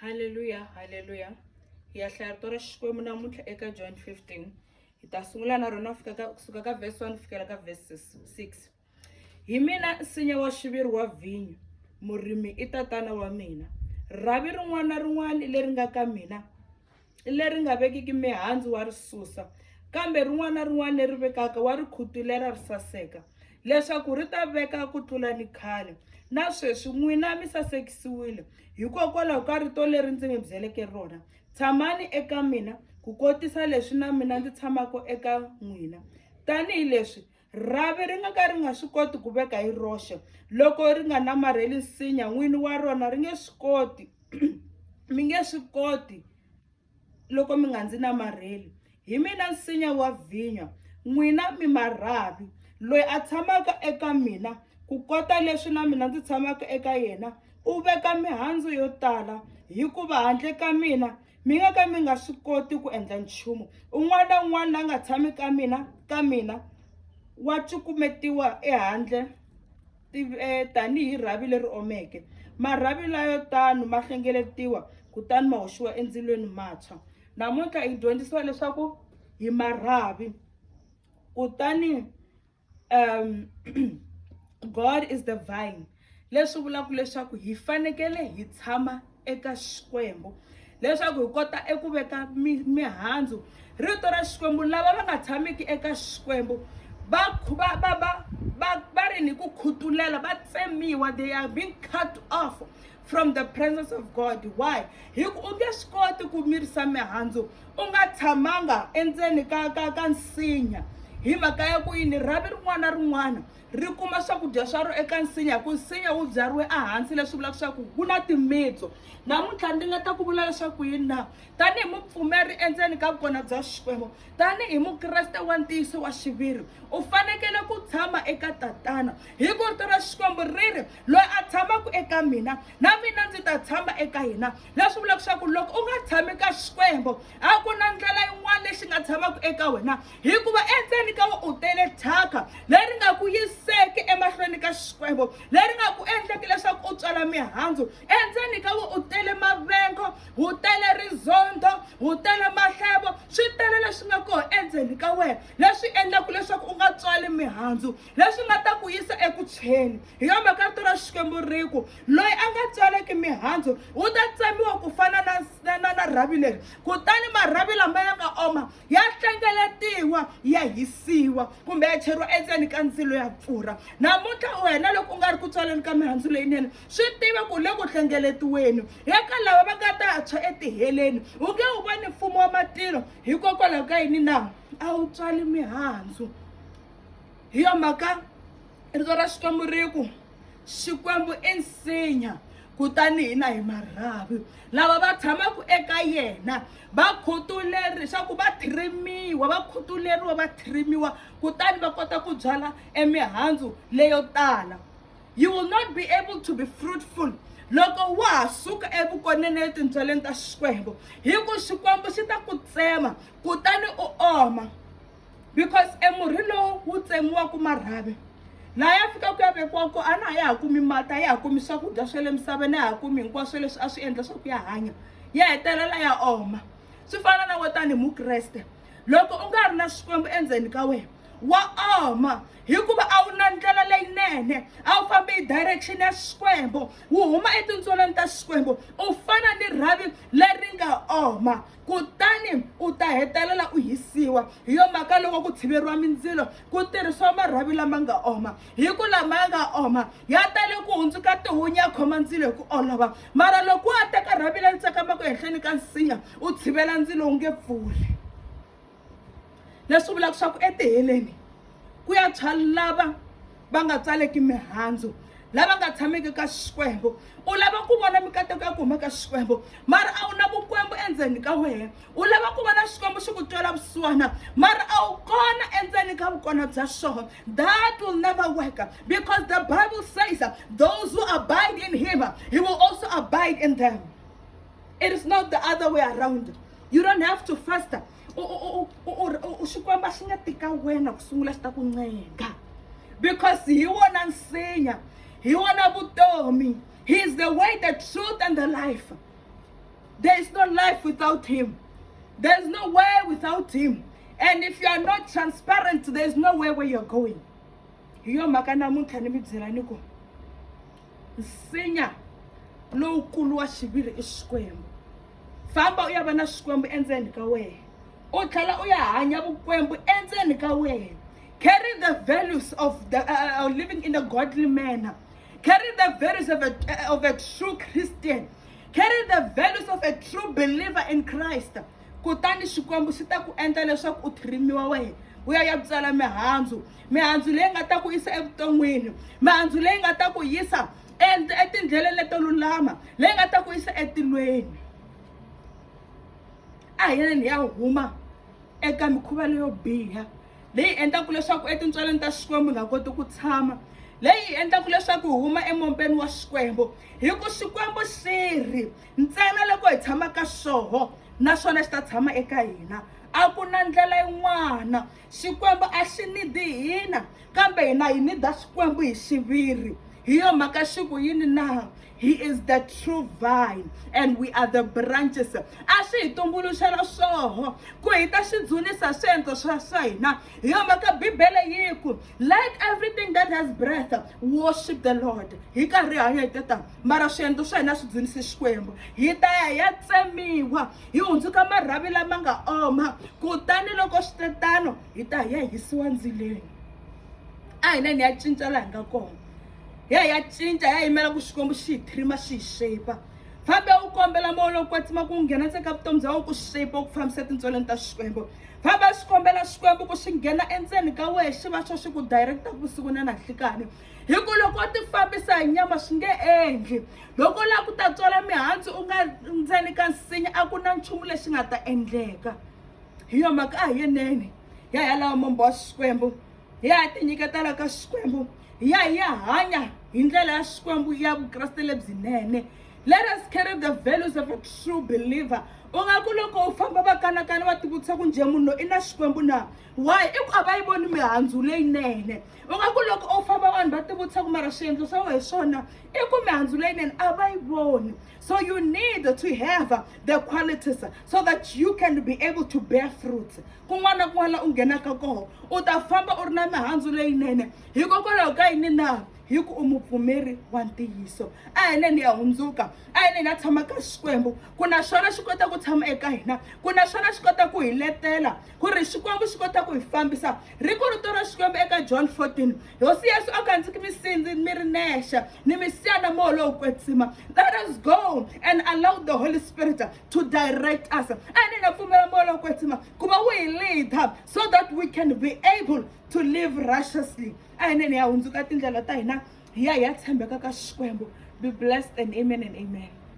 haleluya haleluya hi ya hlaya rito ra xikwembu namuntlha eka john 15 hi ta sungula na rona fika ka kusuka ka verse 1 fikela ka verse 6 hi mina nsinya wa xiviri wa vhinyo murimi i tatana wa mina rhavi rin'wana na rin'wana leri nga ka mina leri nga vekiki mihandzu wa ri susa kambe rin'wana na rin'wana leri vekaka wa ri khutulera ri saseka leswaku ri ta veka ku tlula ni khale na sweswi n'wina mi sasekisiwile hikokwalaho ka rito leri ndzi mi byeleke rona tshamani eka mina ku kotisa leswi na mina ndzi tshamaka eka n'wina tanihileswi rhavi ri nga ka ri nga swi koti ku veka hi roxe loko ri nga namarheli nsinya n'wini wa rona ri nge swi koti mi nge swi koti loko mi nga ndzi namarheli hi mina nsinya wa vhinya n'wina mi marhavi loyi a tshamaka eka mina ku kota leswi na mina ndzi tshamaka eka yena u veka mihandzu yo tala hikuva handle ka mina mi nga ka mi nga swi koti ku endla nchumu un'wana na un'wana la nga tshami ka mina ka mina wa cukumetiwa ehandle eh, tanihi rhavi leri omeke marhavi layo tano ma hlengeletiwa kutani ma hoxiwa endzilweni matshwa namuntlha hi dyondzisiwa leswaku hi marhavi kutani um god is the vine leswi vulaka leswaku hi fanekele hi tshama eka xikwembu leswaku hi kota eku veka mihandzu rito ra xikwembu lava va nga tshamiki eka xikwembu va va va va va va ri ni ku khutulela va tsemiwa they are being cut off from the presence of god why hi ku u nge swi koti ku mirisa mihandzu u nga tshamanga endzeni ka ka ka nsinya hi mhaka ya ku yini rhavi rin'wana na rin'wana ri kuma swakudya swa ro eka nsinya hi ku nsinya wu byariwe ehansi leswi vulaka leswaku ku na timitso namuntlha ndzi nga ta ku vula leswaku yini na tanihi mupfumeri endzeni ka vukona bya xikwembu tanihi mukreste wa ntiyiso wa xiviri u fanekele ku tshama eka tatana hi ku rito ra xikwembu ri ri loyi a tshamaka eka mina na mina ndzi ta tshama eka yena leswi vulaka leswaku loko u nga tshami ka xikwembu a ku na ndlela yin'wana lexi nga tshamaka eka wena hikuva endzeni ka wena u tele thyaka leri nga ku yiseki emahlweni ka xikwembu leri nga ku endleki leswaku u tswala mihandzu endzeni ka wena u tele mavengo wu tele rizondo wu tele mahlevo swi tele leswi nga kona endzeni ka wena leswi endlaka leswaku u nga tswali mihandzu leswi nga ta ku yisa eku tshweni hi yo mhaka rito ra xikwembu ri ku loyi a nga tswaleki mihandzu u ta tsemiwa ku fana na na na na rhavi leri kutani marhavi lama ya nga oma ya hlengeletiwa ya hisiwa kumbe ya cheriwa endzeni ka ndzilo ya pfurha namuntlha wena loko u nga ri ku tswaleni ka mihandzu leyinene swi tiva ku le ku hlengeletiweni eka lava va nga ta tshwa etiheleni u nge wu voni mfumo wa matilo hikokwalaho ka yini na a wu tswali mihandzu hi yo mhaka rito ra xikwembu ri ku xikwembu i nsinya kutani hina hi marhavi lava va tshamaka eka yena va khutuleri leswaku va thrimiwa va khutuleriwa va thrimiwa kutani va kota ku byala emihandzu leyo tala you will not be able to be fruitful loko wa ha suka evukoneni etindzwaleni ta xikwembu hi ku xikwembu xi ta ku tsema kutani u oma because e murhi lowu wu tsemiwaku marhavi laha ya fikaka ya vekiwa ko a na a ya ha kumi mati a ya ha kumi swakudya swa le misaveni a ya ha kumi hinkwaswo leswi a swi endla swa ku ya hanya ya hetelela ya oma swi fana na wo tanihi mukreste loko u nga ri na xikwembu endzeni ka wena wa oma hikuva a wu na ndlela leyinene a wu fambi hi direction ya xikwembu wu huma etintsweleni ta xikwembu u fana ni rhavi leri nga oma kutani u ta hetelela u hisiwa hi yo mhaka loko ku tshiveriwa mindzilo ku tirhisiwa marhavi lama nga oma hi ku lama ya nga oma ya tale ku hundzuka tihunya ya khoma ndzilo hi ku olova mara loko wa teka rhavi leri tsakamaka ehenhleni ka nsinya u tshivela ndzilo wu nge pfuli leswi vulaka swa ku etiheleni ku ya tshwa lava va nga tsaleki mihandzu lava nga tshameki ka xikwembu u lava ku vona mikateko ya ku huma ka xikwembu mara a wu na vukwembu endzeni ka wena u lava ku vona xikwembu xi ku twela vusiwana mara a wu kona endzeni ka vukona bya xona that will never work because the bible says those who abide in him he will also abide in them it is not the other way around you don't have to faster xikwembu a xi nga tika wena ku sungula xi ta ku ncenga because hi wona nsinya hi wona vutomi he is the way the truth and the life there is no life without him there is no way without him and if you are not transparent there is no way where you are going hi yo mhaka namuntlha ni mi byela ni ku nsinya lowukulu wa xiviri i xikwembu famba u ya va na swikwembu endzeni ka wena u tlhela u ya hanya vukwembu endzeni ka wena carry the values of the uh, uh, living in a godly manner carry the values of a, uh, of a true christian carry the values of a true believer in christ kutani xikwembu xi ta ku endla leswaku u thirimiwa wena u ya ya byala mihandzu mihandzu leyi nga ta ku yisa evuton'wini mihandzu leyi nga ta ku yisa and etindleleni leto lulama leyi nga ta ku yisa etilweni a hi yeleni ya huma eka mikhuva leyo biha leyi endlaku leswaku etintswaleni ta xikwembu nga koti ku tshama leyi endlaku leswaku hi huma emompeni wa xikwembu hi ku xikwembu xi ri ntsena loko hi tshama ka xoho naswona xi ta tshama eka hina a ku na ndlela yin'wana xikwembu a xi nidi hina kambe hina hi nida xikwembu hi xiviri hi yo mhaka xi ku yini na he is the true vine and we are the branches a swi hi tumbuluxela swoho ku hi ta swi dzunisa swiendlo swa swa hina hi yo mhaka bibele yi ku let everything that has breath worship the lord hi karhi hanya hi teta mara swiendlo swa hina swi dzunise xikwembu hi ta ya hi ya tsemiwa hi hundzuka marhavi lama nga oma kutani loko swi te tano hi ta hi ya hisiwa ndzilweni a hi neni ya cinca laha hi nga kona hi ya hi ya cinca hi ya yimela ku xikwembu xi hi thrima xi hi shape fambe u kombela moya lowu kwatsima ku nghena ntseka vutomi bya wena ku shape ku fambisa tintsweleni ta xikwembu famba swi kombela xikwembu ku xi nghena endzeni ka wehe xi va xo xi ku directa vusiku na nanhlikani hi ku loko u tifambisa hi nyama swi nge endli loko u lava ku ta tswala mihandzu u nga ndzeni ka nsinya a ku na nchumu lexi nga ta endleka hi yo mhaka a hi yenene hi ya hi ya lava mombo wa xikwembu hi ya hi tinyiketela ka xikwembu hi ya hi ya hanya hi ndlela ya xikwembu ya vukreste lebyinene let us carry the values of a true believer u nga ku loko u famba va kanakana va tivutisa ku njhe munhu loyi i na xikwembu na why i ku a va yi voni mihandzu leyinene u nga ku loko u famba vanhu va tivutisa ku mara swiendlo swa wena hi swona i ku mihandzu leyinene a va yi voni so you need to have the qualities so that you can be able to bear fruit kun'wana na kun'wana la u nghenaka koho u ta famba u ri na mihandzu leyinene hikokwalaho ka yini na hi ku u mupfumeri wa ntiyiso a hi neni ya hundzuka a hi neni ya tshama ka xikwembu ku na xona xi kota ku tshama eka hina ku na xona xi kota ku hi letela ku ri xikwembu xi kota ku hi fambisa ri ku rito ra xikwembu eka john 14 hosi yesu a nga ndzi ki misindzi mi ri nexe ni misiya na moya lowu kwetsima let us go and allow the holy spirit to direct us a ni na pfumela moya lowu kwetsima ku va wu hi leader so that we can be able to live righteously a hi neni ya hundzuka tindlela ta hina hi ya hi ya tshembeka ka xikwembu be blessed and amen and amen